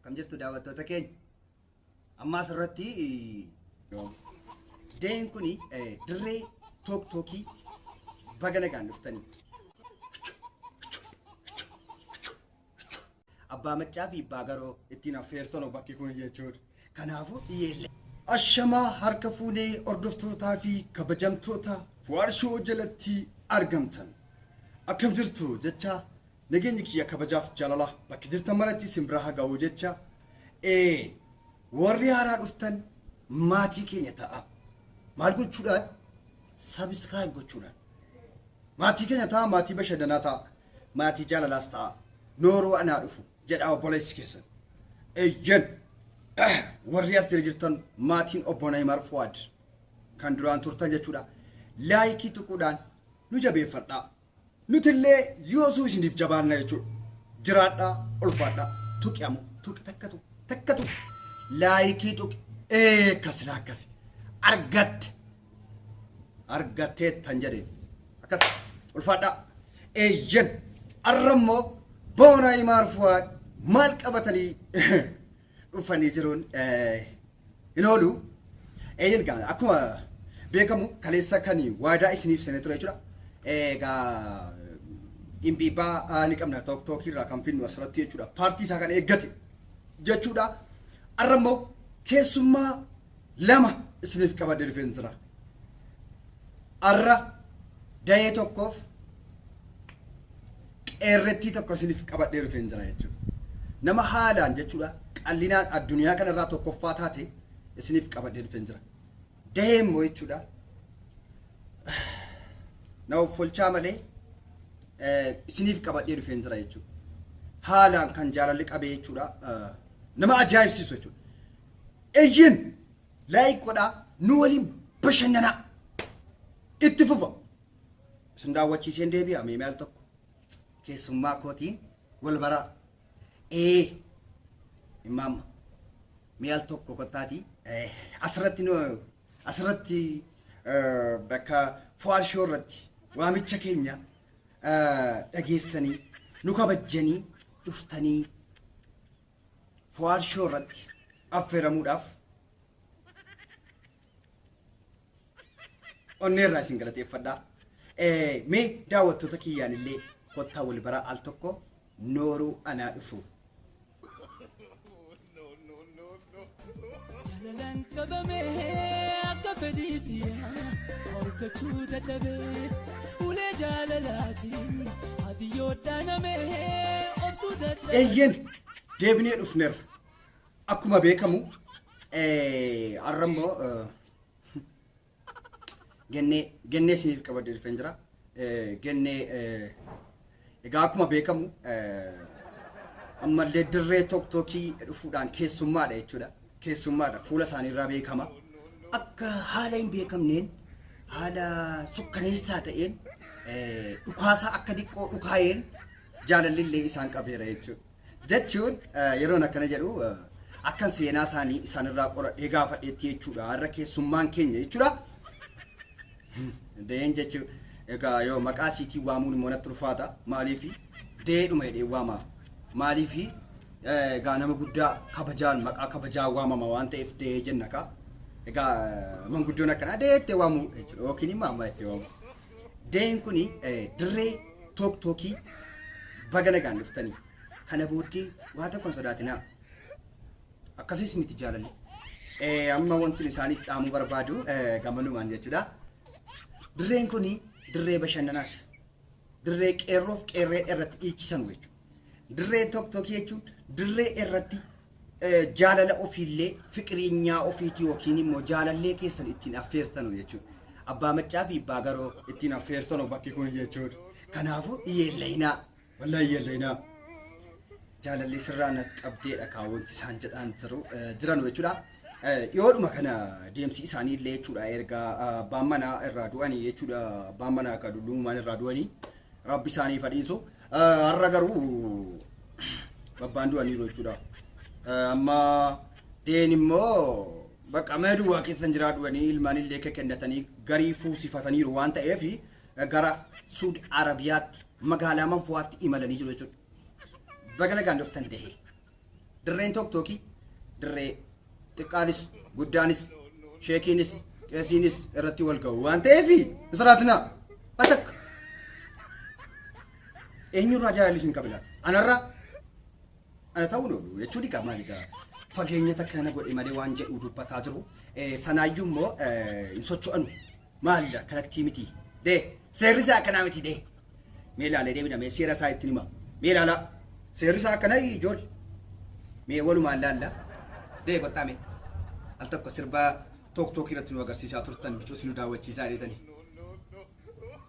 Kam jirtu daawwattoota keenya. Amma asirratti deen kun dirree took tookii baga nagaan dhuftanii. Abbaa maccaa fi abbaa garoo ittiin affeertan bakki kun jechuudha. Kanaafuu dhiyeellee. Ashamaa harka fuunee hordoftootaa fi kabajamtoota Fuwaarshoo jalatti argamtan. Akkam jirtu jecha Nageenyi kiyya kabajaaf jaalalaa bakka jirtan maratti isin bira ha ga'u jecha ee warri haaraa dhuftan maatii keenya ta'a maal gochuudhaan subscribe gochuudhaan maatii keenya ta'a maatii bashannanaa ta'a maatii jaalalaas ta'a nooroo anaa dhufu jedhaa obboleessi keessan eyyen warri as jira jirtan maatiin obbo Nayimar Fuwaad kan duraan turtan jechuudha laayikii tuquudhaan nu jabeeffadhaa Nuti illee yoosuu isiniif jabaanna jechuudha. Jiraadhaa, ulfaadhaa. Tuqi amo, tuqi takka tuqi, takka tuqi. Laayikii tuqi. Ee akkas silaa akkasi. Argatte. Argatteettan jedheen. Akkas ulfaadhaa. Eeyyen. Arra immoo boonaa imaar fuwaad maal qabatanii dhufanii jiruun hin oolu. Eeyyeen gaana akkuma beekamu kaleessa kan waadaa isiniif seenee ture jechuudha. Egaa dhimbiibbaa ni qabna took tookii irraa kan finnu asirratti jechuudha. Paartii isaa kan eeggate jechuudha. Arra immoo keessummaa lama isiniif qabadhe dhufeen jira. Arra dayee tokkoof qeerrettii tokko isiniif qabadhee dhufeen jira jechuudha. Nama haalaan jechuudha qallinaan addunyaa kanarraa tokkoffaa taate isiniif qabadhee dhufeen jira. Dayee immoo jechuudha na offolchaa malee eh, isiniif qabadhee dhufeen jira jechuudha. Haalaan kan jaalalli qabee jechuudha eh, nama ajaa'ibsiisu jechuudha. Eyyeen! Like godhaa nu waliin bashannanaa! Itti fufa! Isin daawwachiiseen deebi'a mee mee al tokko keessummaa kootiin wal baraa. Ee! Immaamma! Mee al tokko kottaatii asirratti nu asirratti bakka Fuwaad Shoo irratti waamicha keenya dhageessanii nu kabajjanii dhuftanii Fuwaad Shoo irratti affeeramuudhaaf onnee irraa isin galateeffadhaa. Eh, Mee daawwattoota kiyyaan illee kottaa wal baraa al tokko nooruu anaa dhufu. Jalalan qabame akka fedhiiti Horkachuu dadhabe ulee jaalalaatiin Ati yoo dhaaname obsuu dadhabe Eeyyeen deebinee dhufneerra. Akkuma beekamu eh, har'a immoo eh, Gennee gennee isiniif qabadee dhufeen jira. Gennee egaa akkuma beekamu ammallee dirree tokkokkii dhufuudhaan keessummaadha jechuudha. Keessummaadha fuula isaaniirraa beekama. Akka haala hin beekamneen haala sukkaneessaa ta'een dhukaasaa akka diqqoo dhukaa'een jaalalli illee isaan qabeera jechuudha. Jechuun yeroon akkana jedhu akkan seenaa isaanii isaanirraa qoradhee gaafadheetti jechuudha. Har'a keessummaan keenya jechuudha. Deen jechuun egaa yoo maqaa siitii waamuun immoo natti ulfaata. Maaliif deedhuma jedhee waamaaf. Maaliif egaa nama guddaa kabajaan maqaa kabajaa waamama waan ta'eef dee jenna kaa. Egaa manguddoon akkanaa deettee waamuu jechuudha. Yookiin immoo amma itti waamu. Dayeen kun dirree took tookii baga nagaan dhuftanii. Kana booddee waa tokko hin sodaatinaa. Akkasiis miti jaalalli. Eh, Amma wanti isaaniif dhaamuu barbaadu eh, gamanumaan jechuudha. Dirreen kun dirree bashannanaati. Dirree qeerroof qeerree irratti dhiichisan jechuudha. Dirree tokkokkii jechuun dirree irratti jaalala ofiillee fiqireenyaa ofiitii yookiin immoo jaalallee keessan ittiin affeertanu jechuudha. Abbaa maccaa fi abbaa garoo ittiin affeertanu bakki kun jechuudha. Kanaafuu iyyeellayinaa wallahi iyyeellayinaa jaalallee sirraa nat qabdeedha kaawwanti isaan jedhaan jiru jiranu jechuudha. Dhiyoodhuma kana deemsi isaanii illee jechuudha erga abbaan manaa irraa du'anii jechuudha abbaan manaa akka dullummaan irraa du'anii Rabbi isaaniif haa dhiisu. Eh, Har'a garuu babbaan du'aniiru jechuudha. Eh, Amma deen immoo bakka mee duwwaa keessan jiraa du'anii ilmaan illee akka kennatanii garii fuusifataniiru waan ta'eef eh, gara Suud Arabiyaatti magaalaa Manfuwaatti imalanii jiru jechuudha. Baga nagaan dhuftan dahee. Dirreen Tooktookii dirree xiqqaanis guddaanis sheekiinis qeesiinis irratti wal ga'u waan ta'eef israatinaa atakka eenyurraa jaalalli isin qabe laata? Anarraa ana ta'uu loolu jechuu dhiqaa maali gaa fageenya takka na godhe malee waan jedhu dubbataa jiru sanaayyuu immoo hin socho'anu. Maali yaa kanatti miti. Dee seerri isaa akkanaa miti dee. Mee ilaalee deebina mee seera isaa ittiin hima. Mee ilaalaa. Seerri isaa akkana ijool. Mee walumaan laalla. Dee kottaa mee. Al tokko sirbaa took tookii irratti nu agarsiisaa turtan bicuus nu daawwachiisaa deetanii.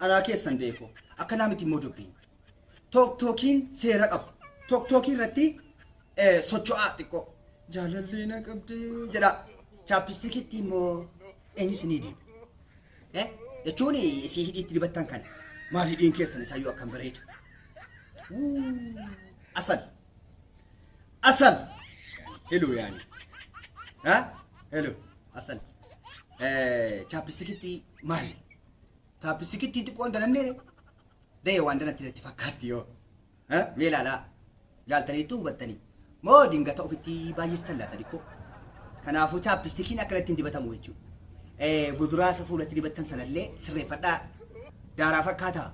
Anaa keessan deeko. Akkanaa miti immoo dubbiin. Took tookiin seera qaba. Took tookii irratti eh, socho'aa xiqqoo. Jaalallee na qabdee jedha. Chaappistikitti immoo eenyu isinii diba? Eh, jechuun isii hidhiitti dibattan kana. Maal hidhiin keessan isaayyuu akkam bareeda. Wuu, Asal. Asal. Heluu yaani. Ha? Heluu. Asal. Chaappistikitti maali? Chaappistikitti xiqqoon danannee da'e waan danatti natti fakkaatti yoo. Mee ilaalaa. Ilaaltaniitu hubattanii. Moo dingata ofitti baay'istan laata xiqqoo. Kanaafuu chaappistikiin akkanatti hin dibatamu jechuudha. Buduraa isa fuulatti dibattan sanallee sirreeffadhaa. Daaraa fakkaataa.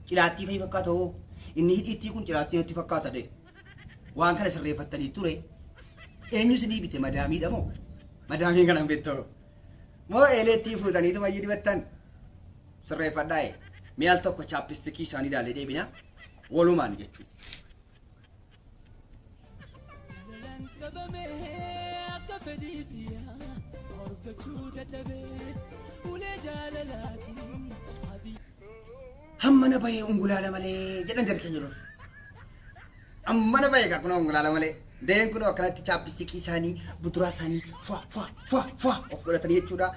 Cilaattii fa'i fakkaata hoo. Inni hidhiittii kun cilaattii natti fakkaata dee. waan kana sirreeffattanii ture eenyu isinii bite madaamiidha moo madaamii kana hin beektu moo eeleettii fuutaniitu mayyuu dibattan sirreeffadhaa ee mee al tokko chaappistikii isaanii ilaalee deebina walumaan jechuudha. Jalalaan qabamee akka fedhiitti yaa horgachuu dadhabee ulee jaalalaatiin. Hammana bahee ungulaala malee jedhan jarri keenya dur. Hammana bahee egaa kunoo ungulaala malee. Deen kunoo akkanatti chaappistikii isaanii buduraa isaanii fwa fwa fwa fwa of godhatanii jechuudha.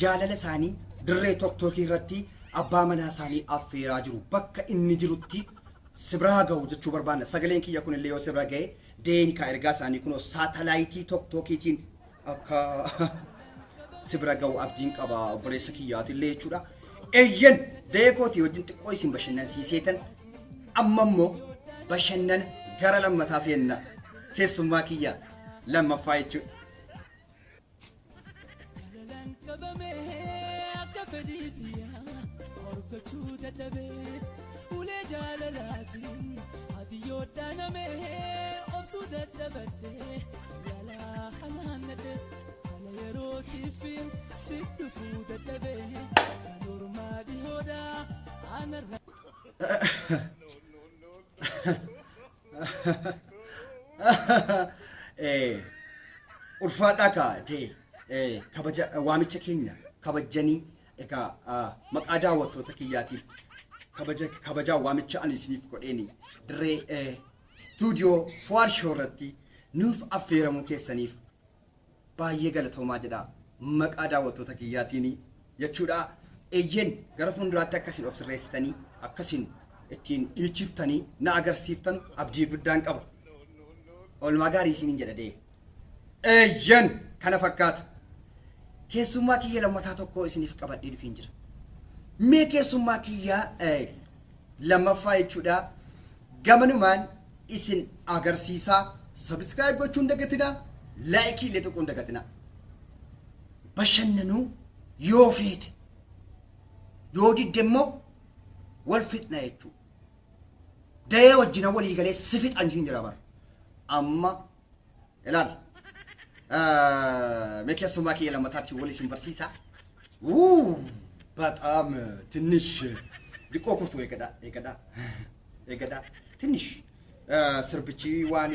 Jaalala isaanii dirree tokkookii irratti abbaa manaa isaanii affeeraa jiru. Bakka inni jirutti sibraa gahu jechuu barbaanna. Sagaleen kiyya kunillee yoo sibra gahe deeni kaa ergaa isaanii kunoo saatalaayitii tokkookiitiin akka si bira ga'u abdiin qaba obboleessa kiyyaatillee jechuudha. Eeyyen da'ee kootii wajjin xiqqoo isin bashannansiiseetan amma immoo bashannana gara lammataa seenna keessummaa kiyya lammaffaa jechuudha. Jalalaan qabamee akka fedhii tiyyaa horgochuu dadhabee ulee jaalalaatiin ati yoo dhaanamee obsuu dadhabadhee Yalaa hanaan nadhee haala yerootiif si dhufuu dadhabee kan ormaa dhihoodha aanarra. Eh, ulfaadhaa kaa dee eh, kabaja eh, waamicha keenya kabajanii egaa ah, maqaa daawwattoota kiyyaatiif kabaja kabajaa waamicha ani isiniif godheeni dirree eh, Studio Fuad Show irratti nuuf affeeramuu keessaniif baay'ee galatoomaa jedha maqaa daawwattoota kiyyaatiin jechuudha. Eeyyeen gara fuulduraatti akka isin of sirreessitanii akka isin ittiin dhiichiftanii na agarsiiftan abdii guddaan qaba. Oolmaa gaarii isiniin jedha dee. Eeyyen kana fakkaata. Keessummaa kiyya lammataa tokko isiniif qabadhee dhufeen jira. Mee keessummaa kiyya eh, lammaffaa jechuudha. Gamanumaan isin agarsiisaa. Sabiskiraayib gochuu hin dagatinaa. Laayikii illee tuquu hin dagatinaa. Bashannanuu yoo feete yoo didde immoo wal fixna jechuudha. Dayee wajjina walii galee si fixan siin jira bara. Amma ilaal mee keessummaa kiyya lammataatti wal isin barsiisa wuu baxaam tinnish diqqoo kuftu eegadha eegadha eegadha tinnish sirbichi waan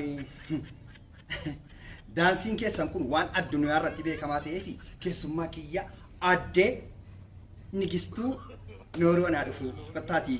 daansiin keessan kun waan addunyaa irratti beekamaa ta'ee fi keessummaa kiyya addee nigistuu nooroo anaa dhufu kottaatii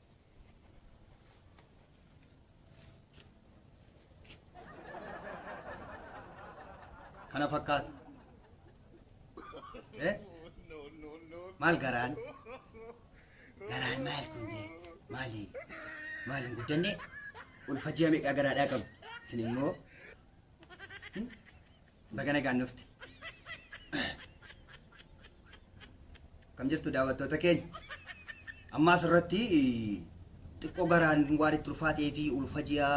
kana fakkaata Eh? maal garaan garaan maal kunnee maali maal hin guddanne ulfa ji'a meeqaa garaadhaa qabu isin immoo Baga nagaan dhufte. Kam jirtu daawwattoota keenya? Amma asirratti xiqqoo garaan waan itti ulfaatee fi ulfa ji'a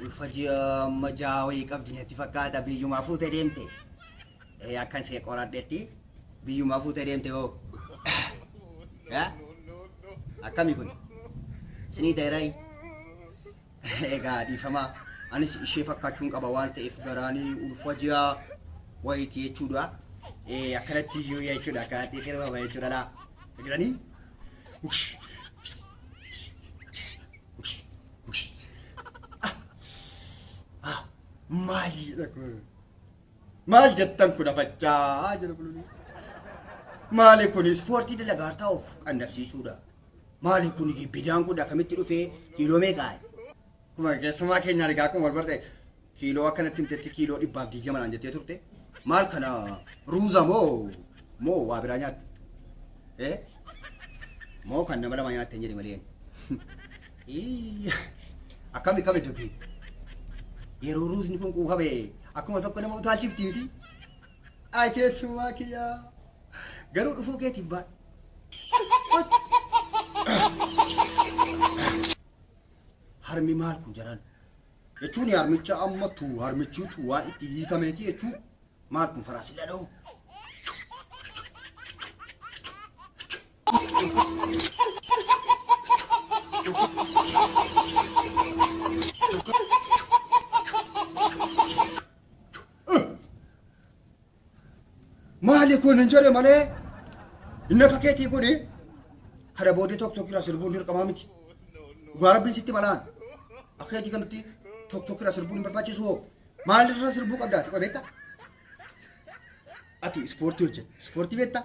ulfa ji'a amma ja'a wayii qabdi natti fakkaata biyyumaa fuutee deemte. Eh, Akkan see qoradhetti biyyumaa fuutee deemte hoo. Yaa? Akkami kun? Sinii ta'e raayii? Egaa dhiifama anis ishee fakkaachuun qaba waan ta'eef garaanii ulfa ji'a wayiiti jechuudha. Eh, Akkanatti iyyuu jechuudha akkanatti sirba jechuudha laa. Jiranii? Ush. Ush. Ush. Ah. Ah. Maaliidha kun? Maal jettan kun afachaa jira buluni. Maali kun ispoortii dalagaa taa'uuf qannabsiisuudha. Maali kun bidaan kun akkamitti dhufee kiiloo meeqaa? Kuma keessumaa keenya argaa kun wal barte kiiloo akkanatti himtetti kiiloo dhibbaaf diigama naan jettee turte. Maal kana ruuza moo moo waa biraa nyaatte? Eh? Moo kan nama lama nyaatte hin jedhe malee. Hii, Akkami kame dubbi. Yeroo ruusni kun quufame akkuma tokko nama utaalchifti miti. Ay keessumaa kiyyaa. Garuu dhufuu keetiin baa. Harmi maal kun jaran? Jechuun harmicha amma tu harmichuutu waan itti hiikameeti jechuun maal kun faraasilla dha'u? maali kun hin jedhe malee inni akka keetii kun kana boodee tokko tokko irraa sirbuun dirqamaa miti. Dhugaa rabbiin sitti balaan akka keetii kanatti tokko tokko irraa sirbuun hin barbaachisu hoo maal irraa sirbuu qabdaa ati qobeetta? Ati ispoortii hojjeta ispoortii beektaa?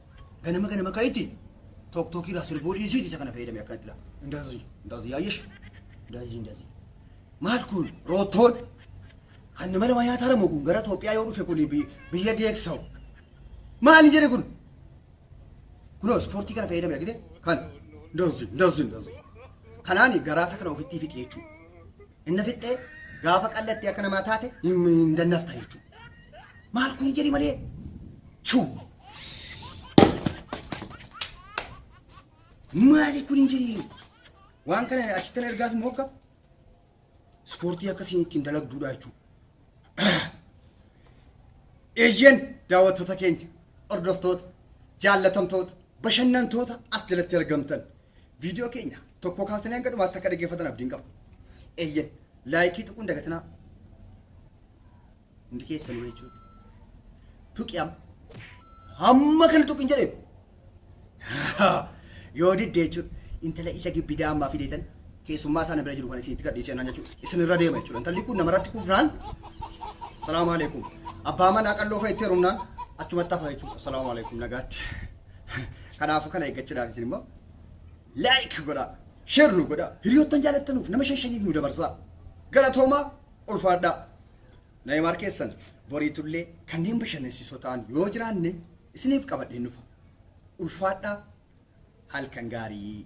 Ganama ganama ka'itti tok tok irraa sirbuu dhiisii isa kana fayyadame akkanatti dha. Indazi indazi yaayesh indazi indazi. Maal kun roottoon kan nama nama nyaataa lamu kun gara Itoophiyaa yoo dhufe kun bi- biyya deeksa'u. Maali jedhe kun? Kunoo ispoortii kana fayyadame argite kan indazi indazi indazi. Kanaani garaasa kana ofittii fixi jechuudha. Inna fixxee gaafa qallattii akka namaa taate hin hin dannafta jechuudha. Maal kun jedhi malee chuu. Maali kun hin jedhi. Waan kana achittan ergaaf immoo akka ispoortii akkasiin ittiin dalagduudha jechuudha. Eeyyeen daawwattoota keenya hordoftoota jaallatamtoota bashannantoota as jalatti argamtan viidiyoo keenya tokko kaasanii hanga dhumaatti akka dhaggeeffatan abdiin qaba. Eeyyeen laayikii tuquun dagatinaa hundi keessanuu jechuudha. Tuqi amma hamma kana tuqin jedhee Yoo didde jechuudha. Intala isa gibbidaa ammaa fideetan keessummaa sana bira jiru kan isinitti gadhiisee naan jechuudha. Isin irra deema jechuudha. Intalli kun namarratti kufnaan salaamu alaikum. Abbaa manaa qalloo fa'itti herumnaan achumatti hafa jechuudha. Salaamu alaikum nagaatti. Kanaafuu kana eeggachuudhaaf isin immoo like godhaa. Share nu godhaa. Hiriyoottan jaalattanuuf nama shan shaniif nu dabarsaa. Galatoomaa ulfaadhaa. Naymaar keessan boriitullee kanneen bashannansiisoo ta'an yoo jiraanne isiniif qabadheen dhufa. Ulfaadhaa halkan gaarii.